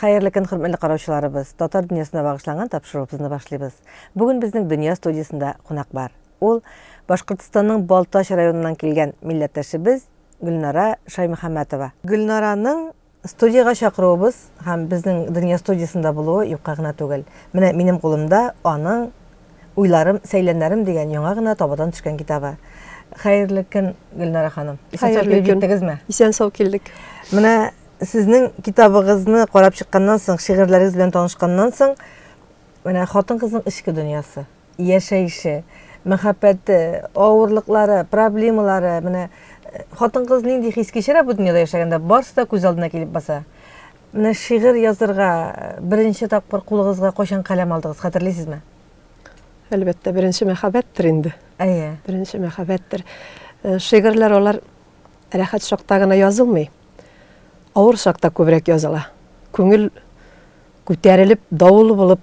Хәерле көн, хөрмәтле караучыларыбыз. Татар дөньясына багышланган тапшыруыбызны башлыйбыз. Бүген безнең дөнья студиясендә кунак бар. Ул Башкортстанның Балтач районыннан килгән милләттәшебез Гөлнара Шаймөхәммәтова. Гөлнараның Студиягә чакыруыбыз һәм безнең Дөнья студиясендә булуы юкка гына түгел. Менә минем кулымда аның Уйларым, сәйләннәрем дигән яңа гына табадан төшкән китабы. Хәерле көн, Гөлнара ханым. Исән-сау килеп җиттегезме? Исән-сау килдек. Менә сезнең китабыгызны карап чыкканнан соң, шигырьләрегез белән танышканнан соң, менә хатын-кызның эчке дөньясы. яшәеше, мәхәббәте, авырлыклары, проблемалары, менә э, хатын-кыз нинди хис кичерә бу дөньяда яшәгәндә, барысы да күз алдына килеп баса. Менә шигырь язырга э, беренче тапкыр кулыгызга кайчан каләм алдыгыз, хәтерлисезме? Әлбәттә, беренче мәхәббәттер инде. Әйе. Беренче мәхәббәттер. Э, шигырьләр алар рәхәт чакта гына язылмый. Авыр чакта күбрәк языла. Күңел күтәрелеп, давыл булып,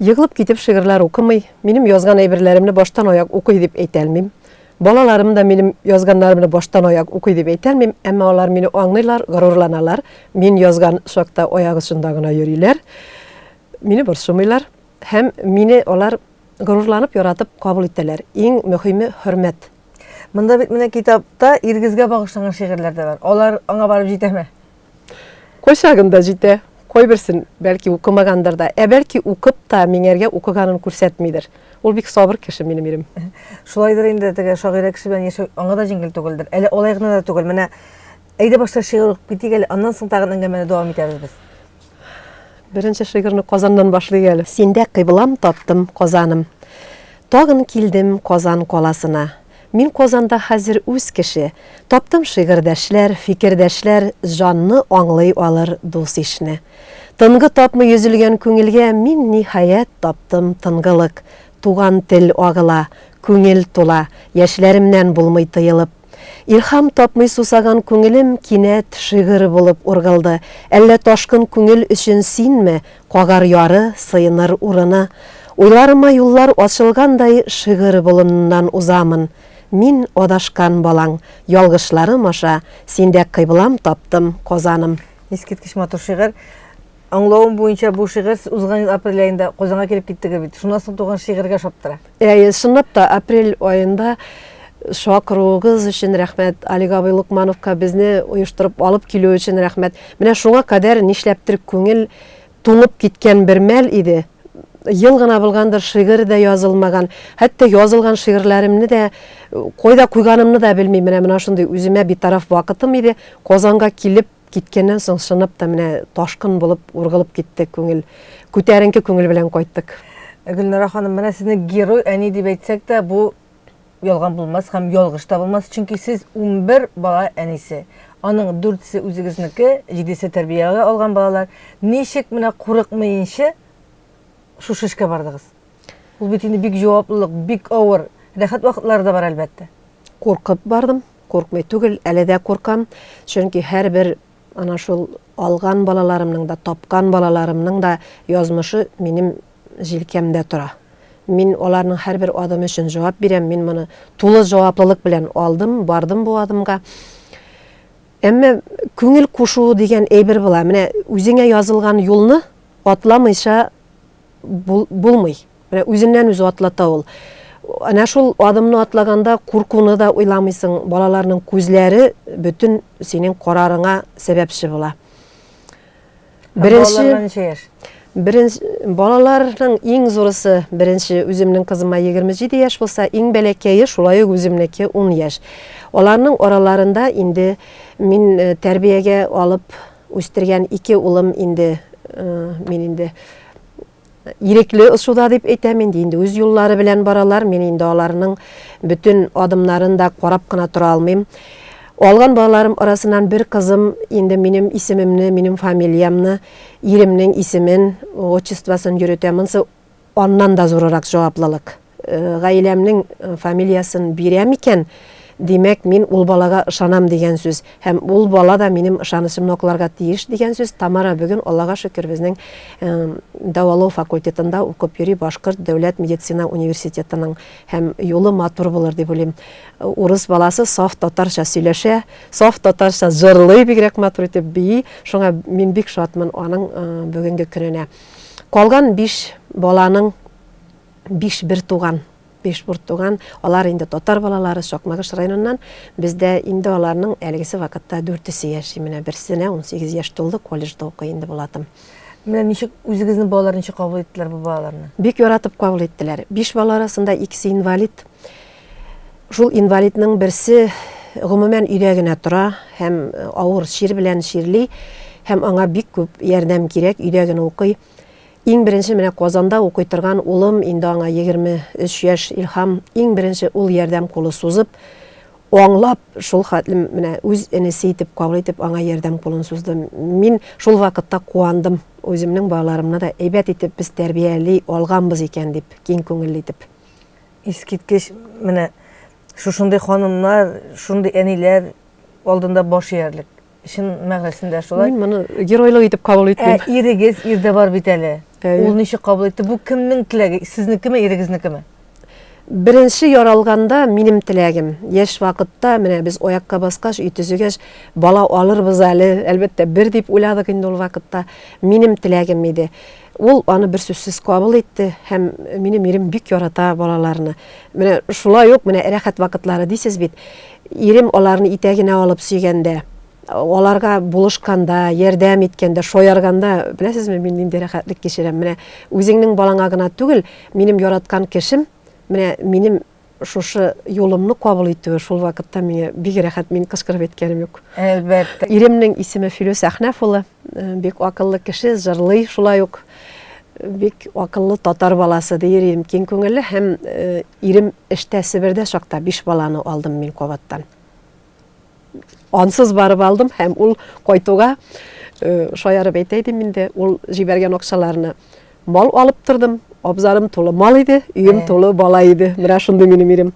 Егылып китеп шигырьләр укымый, минем язган әйберләремне баштан-аяк укый дип әйтә алмыйм. Балаларым да минем язганнарымны баштан-аяк укый дип әйтә алмыйм, әмма алар мине аңлыйлар, горурланалар, мин язган чакта аяк очында гына йөриләр, мине борчымыйлар һәм мине алар горурланып, яратып кабул итәләр. Иң мөһиме, хөрмәт. Монда бит менә китапта Иргизгә багышланган шигырьләр дә бар. Алар аңа барып җитәме? Кайчагын да җитә, кайберсен, бәлки, укымагандыр да. Ә бәлки, укып та, миңәргә укыганын күрсәтмидер. Ул бик сабыр кеше минем ирем. Шулайдыр инде, теге шагыйрә кеше белән яшәү аңа да җиңел түгелдер. Әле алай гына да түгел. Менә әйдә башта шигырь укып китик әле, аннан соң тагын әңгәмәне дәвам итәбез без. Беренче шигырьне Казаннан башлыйк әле. Синдә кыйблам таптым, Казаным. Тагын килдем Казан каласына. Мин Казанда хәзер үз кеше. Таптым шигырьдәшләр, фикердәшләр, Җанны аңлый алыр дус-ишне. Тынгы тапмый өзелгән күңелгә Мин, ниһаять, таптым тынгылык. Туган тел агыла, күңел тула, Яшьләремнән булмый тыелып. Илһам тапмый сусаган күңелем Кинәт шигырь булып ургылды. Әллә ташкын күңел өчен синме Кагар яры, сыеныр урыны. Уйларыма юллар ачылгандай Шигырь болыныннан узамын. Мин, адашкан балаң, ялгышларым аша Синдә кыйблам таптым, Казаным. Искиткеч матур шигырь. Аңлавым буенча, бу шигырь сез узган ел апрель аенда Казанга килеп киттегез бит. Шуннан соң туган шигырьгә ошап тора. Әйе, чынлап та, апрель аенда чакыруыгыз өчен рәхмәт, Олег абый Лукмановка безне оештырып алып килү өчен рәхмәт. Менә шуңа кадәр нишләптер күңел туңып киткән бер мәл иде. Ел гына булгандыр, шигырь дә язылмаган. Хәтта язылган шигырьләремне дә кайда куйганымны да белмим. Менә мына шундый үземә битараф вакытым иде. Казанга килеп, Киткәннән соң чынлап та менә ташкын булып ургылып китте күңел. Күтәренке күңел белән кайттык. Гөлнара ханым, менә сезне герой әни дип әйтсәк тә, бу ялган булмас һәм ялгыш та булмас, чөнки сез унбер бала әнисе. Аның дүртесе үзегезнеке, җидесе тәрбиягә алган балалар. Ничек менә курыкмыенчы шушы эшкә бардыгыз? Ул бит инде бик җаваплылык, бик авыр. Рәхәт вакытлары да бар, әлбәттә. Куркып бардым. Куркмый түгел, әле дә куркам, чөнки һәрбер ана шул алган балаларымның да, тапкан балаларымның да язмышы минем җилкәмдә тора. Мин аларның һәрбер адымы өчен җавап бирәм, мин моны тулы җаваплылык белән алдым, бардым бу адымга. Әмма күңел кушуы дигән әйбер була. Менә үзеңә язылган юлны атламыйча бул, булмый. Менә үзеннән үзе атлата ул. Әнә шул адымны атлаганда куркуны да уйламыйсың, балаларның күзләре бөтен синең карарыңа сәбәпче була. Беренче Беренче балаларның иң зурысы беренче үземнең кызыма 27 яшь булса, иң бәләкәе шулай ук үземнеке 10 яшь. Аларның араларында инде мин э, тәрбиягә алып Үстергән ике улым инде мин инде ирекле ысуда дип әйтәм инде, инде үз юллары белән баралар, мин инде аларның бөтен адымнарын да карап кына тора алмыйм. Алган балаларым арасыннан бер кызым инде минем исемемне, минем фамилиямне, иремнең исемен, отчествосын йөрөтә. Монсы Аннан да зурырак җаваплылык. Гаиләмнең фамилиясен бирәм икән, димәк, мин ул балага ышанам дигән сүз. Һәм ул бала да минем ышанычымны акларга тиеш дигән сүз. Тамара бүген, Аллага шөкер, безнең дәвалау факультетында укып йөри, Башкорт дәүләт медицина университетының. Һәм юлы матур булыр дип уйлыйм. Урыс баласы саф татарча сөйләшә, саф татарча җырлый, бигрәк матур итеп бии. Шуңа мин бик шатмын аның бүгенге көненә. Калган биш баланың биш бер туган, биш бер туган, алар инде татар балалары Сакмагыш районыннан. Бездә инде аларның әлегесе вакытта дүртесе яши. Менә берсенә 18 яшь тулды, колледжда укый инде Булатым. Менә ничек үзегезнең балалар ничек кабул иттеләр бу балаларны? Бик яратып кабул иттеләр. Биш бала арасында икесе инвалид. Шул инвалидның берсе гомумән өйдә генә тора һәм авыр чир белән чирли һәм аңа бик күп ярдәм кирәк, өйдә генә укый. Иң беренче менә Казанда укый торган улым, инде аңа 23 яшь, Илһам, иң беренче ул ярдәм кулы сузып, аңлап, шул хәтлем менә үз энесе итеп кабул итеп аңа ярдәм кулын сузды. Мин шул вакытта куандым, үземнең балаларымны да әйбәт итеп без тәрбияли алганбыз икән дип, киң күңелле итеп. Искиткеч, менә шушындый ханымнар, шундый әниләр алдында баш иярлек. Чын мәгънәсендә шулай. Мин моны геройлык итеп кабул итмим. Ә ирегез ирдә бар бит әле. Ул ничек кабул итте? Бу кемнең теләге? Сезнекеме, ирегезнекеме? Беренче яралганда минем теләгем. Яшь вакытта менә без аякка баскач, өй төзегәч, бала алырбыз әле, әлбәттә, бер дип уйладык инде ул вакытта. Минем теләгем иде. Ул аны берсүзсез кабул итте һәм минем ирем бик ярата балаларны. Менә шулай ук менә рәхәт вакытлары дисез бит. Ирем аларны итәгенә алып сөйгәндә, аларга булышканда, ярдәм иткәндә, шаярганда, беләсезме, мин нинди рәхәтлек кичерәм. Менә үзеңнең балаңа гына түгел, минем яраткан кешем, менә минем Шушы юлымны кабул итүе шул вакытта миңа бик рәхәт, мин кычкырып әйткәнем юк. Әлбәттә. Иремнең исеме Филүс Әхнәф улы, э, бик акыллы кеше, җырлый шулай ук. Бик акыллы татар баласы дияр идем, киң күңелле һәм э, ирем эштә Себердә чакта биш баланы алдым мин кабаттан. ансыз барып алдым һәм ул кайтуга э, шаярып әйтә идем инде ул җибәргән акчаларны мал алып тордым абзарым тулы мал иде өем тулы бала иде менә шундый минем ирем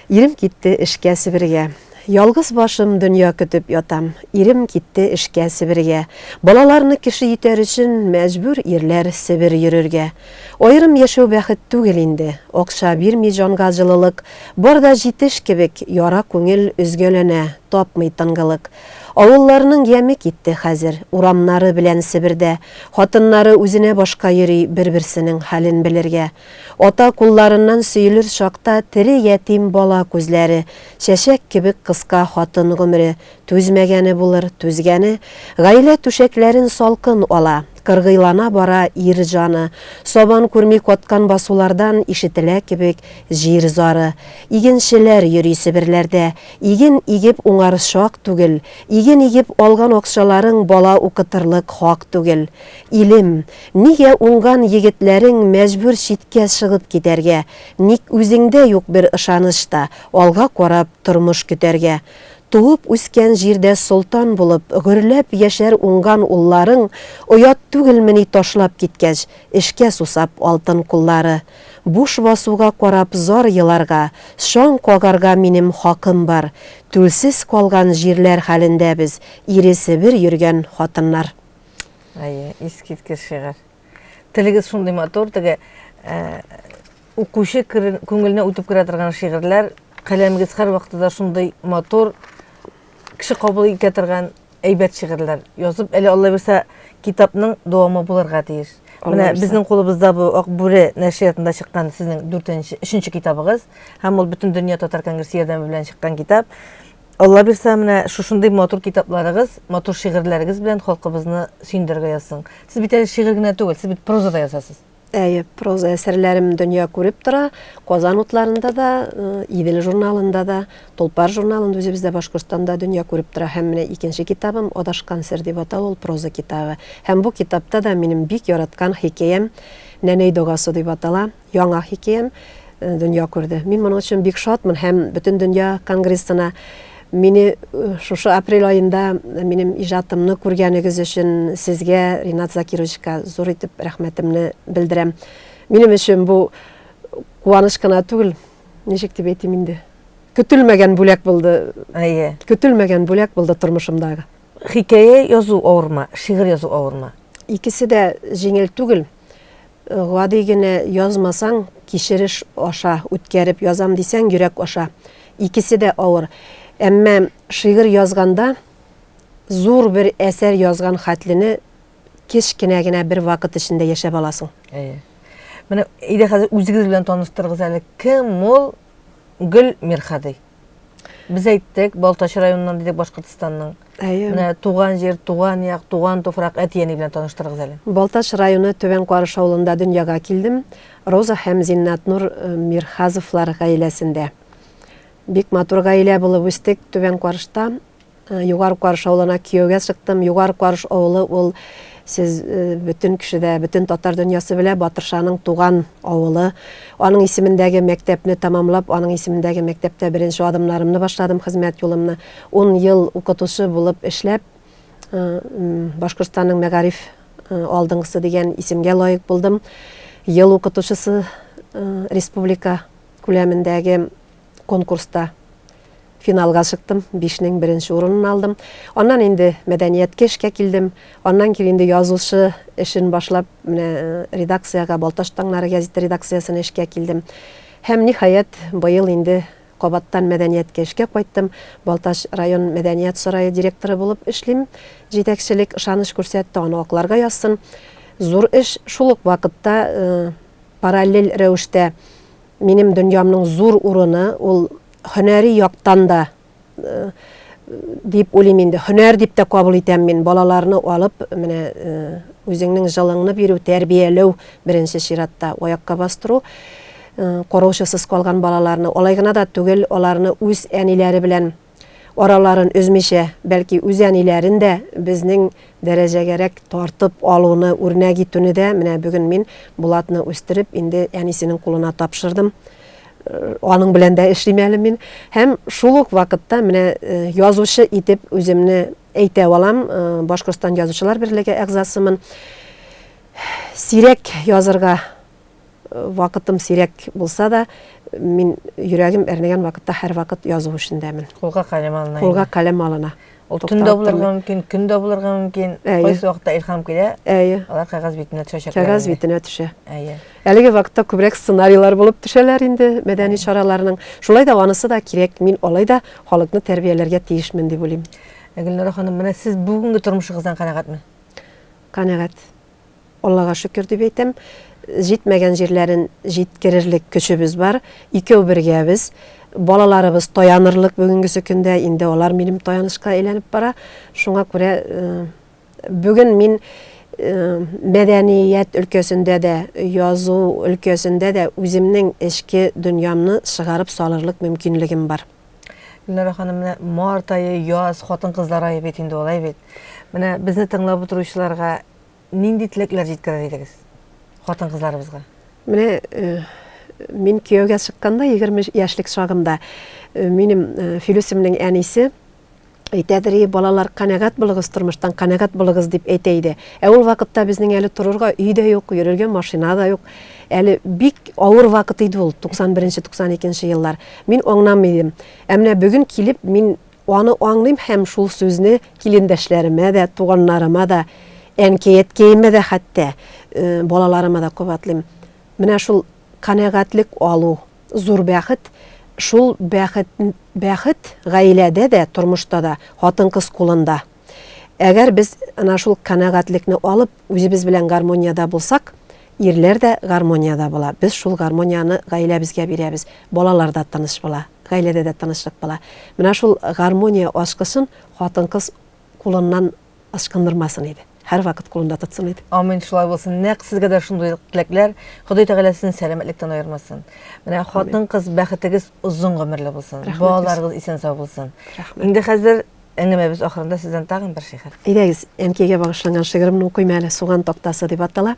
ирем китте эшкә себергә Ялгыз башым дөнья көтеп ятам. Ирем китте эшкә Себергә. Балаларны кеше итәр өчен мәҗбүр ирләр Себер йөрергә. Аерым яшәү бәхет түгел инде, акча бирми җанга җылылык, Бар да җитеш кебек, яра күңел өзгәләнә, тапмый тынгылык. Авылларның яме китте хәзер, урамнары белән Себердә, Хатыннары үзенә башка йөри, бер-берсенең хәлен белергә. Ата кулларыннан сөелер чакта тере ятим бала күзләре, Чәчәк кебек кыска хатын гомере, түзмәгәне булыр, түзгәне, Гаилә түшәкләрен салкын ала. Кыргыйлана бара ир җаны. Сабан күрми каткан басулардан ишетелә кебек җир зары. Игенчеләр йөри Себерләрдә. Иген игеп уңар чак түгел. Иген игеп алган акчаларың бала укытырлык хак түгел. Илем, нигә уңган егетләрең мәҗбүр читкә чыгып китәргә? Ник үзеңдә юк бер ышаныч та, алга карап тормыш көтәргә? Туып үскән җирдә солтан булып, гөрләп яшәр уңган улларың, оят түгелмени ташлап киткәч, эшкә сусап алтын куллары. Буш басуга карап зар еларга, чаң кагарга минем хакым бар. Түлсез калган җирләр хәлендә без, ире Себер йөргән хатыннар. Әйе, искиткеч шигырь. Телегез шундый матур, теге Укучы күңеленә үтеп керә торган шигырьләр, каләмегез һәрвакыты да шундый матур, кеше кабул итә торган әйбәт шигырьләр язып, әле Алла бирсә, китапның дәвамы булырга тиеш. Менә безнең кулыбызда бу Ак бүре нәшриятында чыккан сезнең 4-нче, 3-нче китабыгыз, һәм ул бөтен дөнья татар конгрессы ярдәме белән чыккан китап. Алла бирсә, менә шушындый матур китапларыгыз, матур шигырьләрегез белән халкыбызны сөендерергә язсын. Сез бит әле шигырь генә түгел, сез бит проза да язасыз. Әйе, проза әсәрләрем дөнья күреп тора. Казан утларында да, э, Идел журналында да, Толпар журналында үзебездә Башкортстанда дөнья күреп тора. Һәм менә икенче китабым Адашкан сер дип атала, ул проза китабы. Һәм бу китапта да минем бик яраткан хикәям Нәнәй догасы дип атала. Яңа хикәям э, дөнья күрде. Мин моның өчен бик шатмын һәм бөтен дөнья конгрессына Мине шушы апрель аенда минем иҗатымны күргәнегез өчен сезгә, Ринат Закировичка, зур итеп рәхмәтемне белдерәм. Минем өчен бу куаныч кына түгел, ничек дип әйтим инде, көтелмәгән бүләк булды. Әйе. Көтелмәгән бүләк булды тормышымдагы. Хикәя язу авырмы, шигырь язу авырмы? Икесе дә җиңел түгел. Гади генә язмасаң, кичереш аша үткәреп язам дисәң, йөрәк аша. Икесе дә авыр. Әмма шигырь язганда зур бер әсәр язган хәтлене кечкенә генә бер вакыт эчендә яшәп аласың. Әйе. Менә әйдә хәзер үзегез белән таныштырыгыз әле. Кем ул? Гөл Мирхади. Без әйттек, Балтач районыннан дидек Башкортостанның. Әйе. Менә туган җир, туган як, туган туфрак әти-әни белән таныштырыгыз әле. Балтач районы Түбән Карыш авылында дөньяга килдем. Роза һәм Зиннатнур э, Мирхазовлар гаиләсендә. Бик матур гаилә булып үстек Түбән Карышта. Югары Карыш авылына кияүгә чыктым. Югары Карыш авылы ул сез бөтен кеше дә, бөтен татар дөньясы белә, Батыршаның туган авылы. Аның исемендәге мәктәпне тәмамлап, аның исемендәге мәктәптә беренче адымнарымны башладым, хезмәт юлымны. Ун ел укытучы булып эшләп, Башкортстанның мәгариф алдынгысы дигән исемгә лаек булдым. Ел укытучысы республика күләмендәге конкурста финалга чыктым, бишнең беренче урынын алдым. Аннан инде мәдәнияткә эшкә килдем. Аннан кир инде язучы эшен башлап, менә э, редакциягә Балташ таңнары газеты редакциясенә эшкә килдем. Һәм ниһаять быел инде кабаттан мәдәнияткә эшкә кайттым. Балтач район мәдәният сарае директоры булып эшлим. Җитәкчелек ышаныч күрсәтте, аны акларга язсын. Зур эш шул ук вакытта э, параллель рәвештә Минем дөньямның зур урыны ул һөнәри яктан да дип уйлыйм инде. Һөнәр дип тә кабул итәм мин. Балаларны алып, менә үзеңнең җылыңны бирү, тәрбияләү беренче чиратта, аякка бастыру, караучысыз калган балаларны, алай гына да түгел, аларны үз әниләре белән араларын өзмичә, бәлки үз әниләрен дә безнең дәрәҗәгәрәк тартып алуны үрнәк итүне дә, менә бүген мин Булатны үстереп, инде әнисенең кулына тапшырдым, аның белән дә эшлим әле мин, һәм шул ук вакытта менә язучы итеп үземне әйтә алам, Башкортстан Язучылар берлеге әгъзасымын. Сирәк язырга вакытым сирәк булса да, мин йөрәгем әрнегән вакытта һәрвакыт язу эшендәмен. Кулга калем алына. Кулга калем алына. Ул төн дә булырга мөмкин, көн дә булырга мөмкин. Кайсы вакытта илһам килә, алар кәгазь битенә төшәчәк. Кәгазь битенә төшә. Әйе. Әлеге вакытта күбрәк сценарийлар булып төшәләр инде мәдәни чараларның. Шулай да анысы да кирәк. Мин алай да халыкны тәрбияләргә тиешмен дип уйлыйм. Гөлнара ханым, менә сез бүгенге тормышыгыздан канәгатьме? Канәгать. Аллага шөкер дип әйтәм, җитмәгән җирләрен җиткерерлек көчебез бар, икәү бергәбез. Балаларыбыз таянырлык бүгенгесе көндә, инде алар минем таянычка әйләнеп бара. Шуңа күрә бүген мин мәдәният өлкәсендә дә, язу өлкәсендә дә үземнең эчке дөньямны чыгарып салырлык мөмкинлегем бар. Гөлнара ханым, менә март ае, яз, хатын-кызлар ае бит инде алай бит. Менә безне тыңлап утыручыларга нинди теләкләр җиткерер идегез хатын-кызларыбызга? Менә э, мин кияүгә чыкканда 20 яшьлек чагымда э, минем э, Филүсемнең әнисе әйтәдер и балалар канәгать булыгыз тормыштан канәгать булыгыз дип әйтә иде ә ул вакытта безнең әле торырга өй дә юк йөрергә машина да юк әле бик авыр вакыт иде ул 91 92 еллар мин аңламый идем ә менә бүген килеп мин Аны аңлыйм һәм шул сүзне килендәшләремә дә, туганнарыма да, әнкәй-әткәемә дә хәтта, балаларыма да кабатлыйм. Менә шул канәгатьлек алу, зур бәхет. Шул бәхет, бәхет гаиләдә дә, тормышта да, хатын-кыз кулында. Әгәр без ана шул канәгатьлекне алып, үзебез белән гармониядә булсак, ирләр дә гармониядә була. Без шул гармонияне гаиләбезгә бирәбез. Балалар да тыныч була, гаиләдә дә тынычлык була. Менә шул гармония ачкычын хатын-кыз кулыннан ычкындырмасын иде. Һәрвакыт кулында тотсын иде. Амин, шулай булсын. Нәкъ сезгә дә шундый теләкләр. Ходай Тәгалә сезне сәламәтлектән аермасын. Менә хатын-кыз бәхетегез озын гомерле булсын. Балаларыгыз исән-сау булсын. Инде хәзер Әңгәмәбез ахырында сездән тагын бер шигырь. Әйдәгез, әнкәйгә багышланган шигыремне укыйм әле, Суган тактасы дип атала.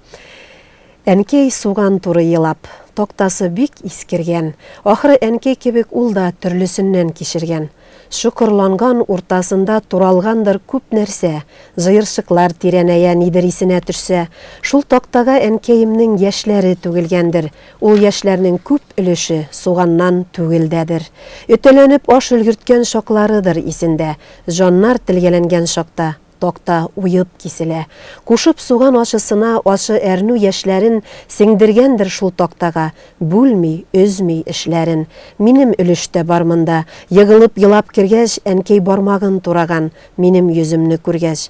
Әнкәй суган туры елап, тактасы бик искергән. Ахры әнкәй кебек ул да төрлесеннән кичергән. Чокырланган уртасында туралгандыр күп нәрсә, җыерчыклар тирәнәя, нидер исенә төшсә. Шул тактага әнкәемнең яшьләре түгелгәндер. Ул яшьләрнең күп өлеше суганнан түгелдәдер. Өтәләнеп аш өлгерткән чакларыдыр исендә. Җаннар телгәләнгән чакта такта уеп киселә. Кушып суган ачысына ачы әрнү яшьләрен сеңдергәндер шул тактага, бүлми, өзми эшләрен. Минем өлеш тә бар монда. Егылып елап кергәч, әнкәй бармагын тураган, минем йөземне күргәч.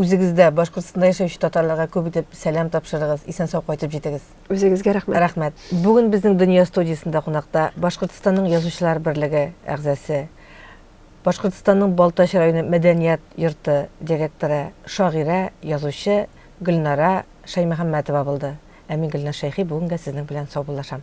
Үзегездә, Башкортстанда яшәүче татарларга күп итеп сәлам тапшырыгыз, исән-сау кайтып җитегез. Үзегезгә рәхмәт. Рәхмәт. Бүген безнең Дөнья студиясендә кунакта Башкортстанның Язучылар берлеге әгъзасы, Башкортстанның Балтач районы мәдәният йорты директоры, шагыйрә, язучы Гөлнара Шаймөхәммәтова булды. Ә мин Гөлназ Шәйхи бүгенгә сезнең белән саубуллашам.